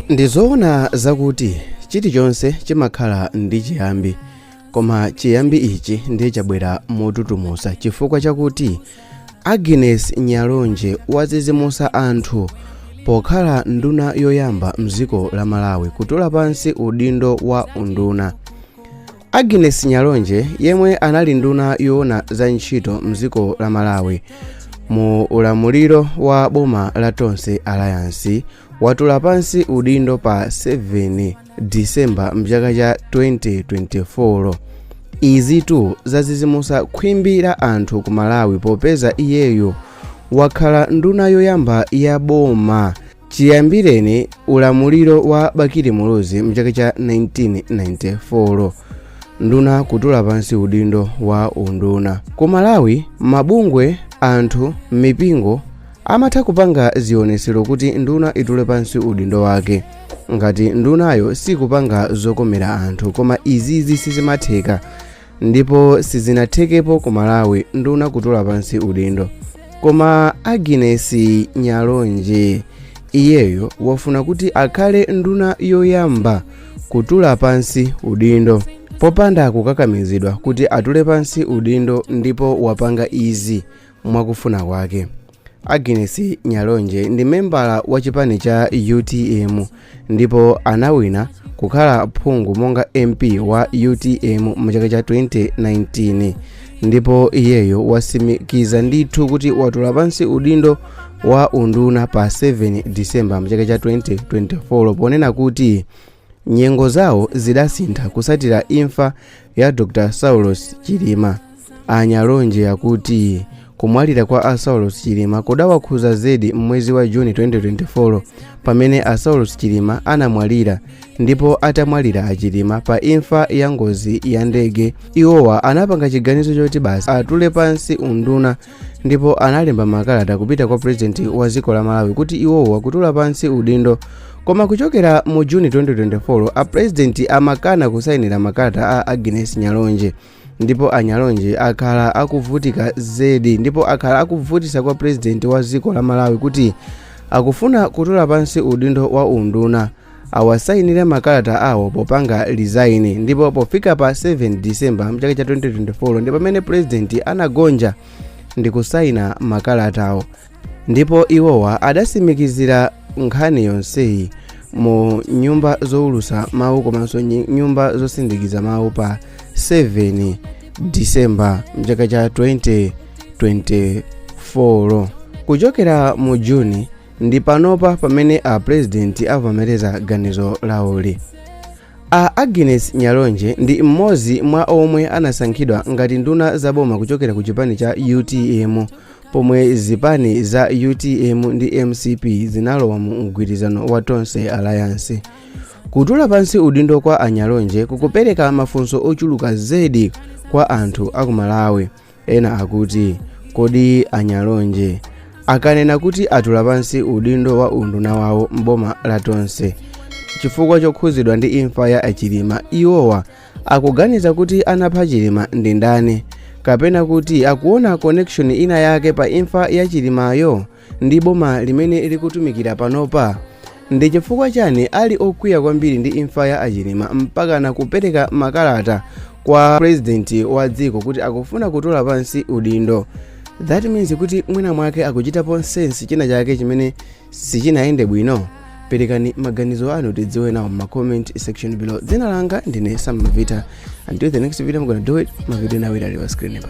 Ndi zoona zakuti chilichonse chimakhala ndi chiyambi, koma chiyambi ichi ndiye chabwera motutumusa chifukwa chakuti Agnes Nyalonje wazizimusa anthu pokhala nduna yoyamba mdziko la Malawi kutula pansi udindo wa unduna. Agnes Nyalonje yemwe anali nduna yoona za ntchito mdziko la Malawi mu ulamuliro wa boma la Tonse Alliance watula pansi udindo pa 7 disemba mchaka cha 2024 izitu zazizimusa khwimbi la anthu ku malawi popeza iyeyo wakhala nduna yoyamba ya boma chiyambireni ulamuliro wa bakili muluzi mchaka cha 1994 nduna kutula pansi udindo wa unduna ku malawi mabungwe anthu m'mipingo amatha kupanga zionesero kuti nduna itule pansi udindo wake ngati ndunayo sikupanga zokomera anthu koma izizi sizimatheka ndipo sizinathekepo ku malawi nduna kutula pansi udindo koma agnes nyalonje iyeyo wafuna kuti akhale nduna yoyamba kutula pansi udindo popanda kukakamizidwa kuti atule pansi udindo ndipo wapanga izi mwakufuna kwake agnes nyalonje ndi membala wa chipani cha utm ndipo anawina kukhala phungu monga mp wa utm mu chaka cha 2019 ndipo iyeyo wasimikiza ndithu kuti watula pansi udindo wa unduna pa 7 disemba mu chaka cha 2024 ponena kuti Nyengo zawo zidasintha kusatira imfa ya Dr Saulos Chilima. A Nyalonje akuti kumwalira kwa a Saulos Chilima kudawakhuza zedi m'mwezi wa Juni 2024 pamene a Saulos Chilima anamwalira ndipo atamwalira a Chilima pa imfa ya ngozi ya ndege iwowa anapanga chiganizo choti basi atule pansi unduna ndipo analemba makalata kupita kwa purezidenti wa dziko la malawi kuti iwowo akutula pansi udindo koma kuchokera mu juni 2024 apurezidenti amakana kusayinira makalata a agnes nyalonje ndipo anyalonje akhala akuvutika zedi ndipo akhala akuvutisa kwa purezidenti wa dziko la malawi kuti akufuna kutula pansi udindo wa unduna awasayinire makalata awo popanga resign ndipo pofika pa 7 december mchaka cha 2024 ndi pamene purezidenti anagonja ndi kusayina makalatawo ndipo iwowa adasimikizira nkhani yonseyi mu nyumba zowulusa mawu komanso nyi- nyumba zosindikiza mawu pa 7 december mchaka cha 2024 kuchokera mu juni ndi panopa pamene a pulezidenti avomereza ganizo lawoli a agnes nyalonje ndi mmodzi mwa omwe anasankhidwa ngati nduna za boma kuchokera ku chipani cha utm pomwe zipani za utm ndi mcp zinalowa mu mgwirizano wa tonse alliance kutula pansi udindo kwa anyalonje kukupereka mafunso ochuluka zedi kwa anthu akumalawi ena akuti kodi anyalonje akanena kuti atula pansi udindo wa unduna wawo m'boma la tonse chifukwa chokhuzidwa ndi imfa ya achilima iwowa akuganiza kuti anapha chilima ndi ndani kapena kuti akuona connection ina yake pa imfa ya chilimayo ndi boma limene likutumikira panopa ndi chifukwa chani ali okwiya kwambiri ndi imfa ya achilima mpaka nakupereka makalata kwa purezidenti wa dziko kuti akufuna kutula pansi udindo that means kuti mwina mwake akuchitapo sense china chake chimene sichinayende bwino perekani maganizo anu tidziwe nawo m'ma comment section below dzina langa ndine sam mavita until the next video i'm gonna do it mavideo nawe ali pa screen pa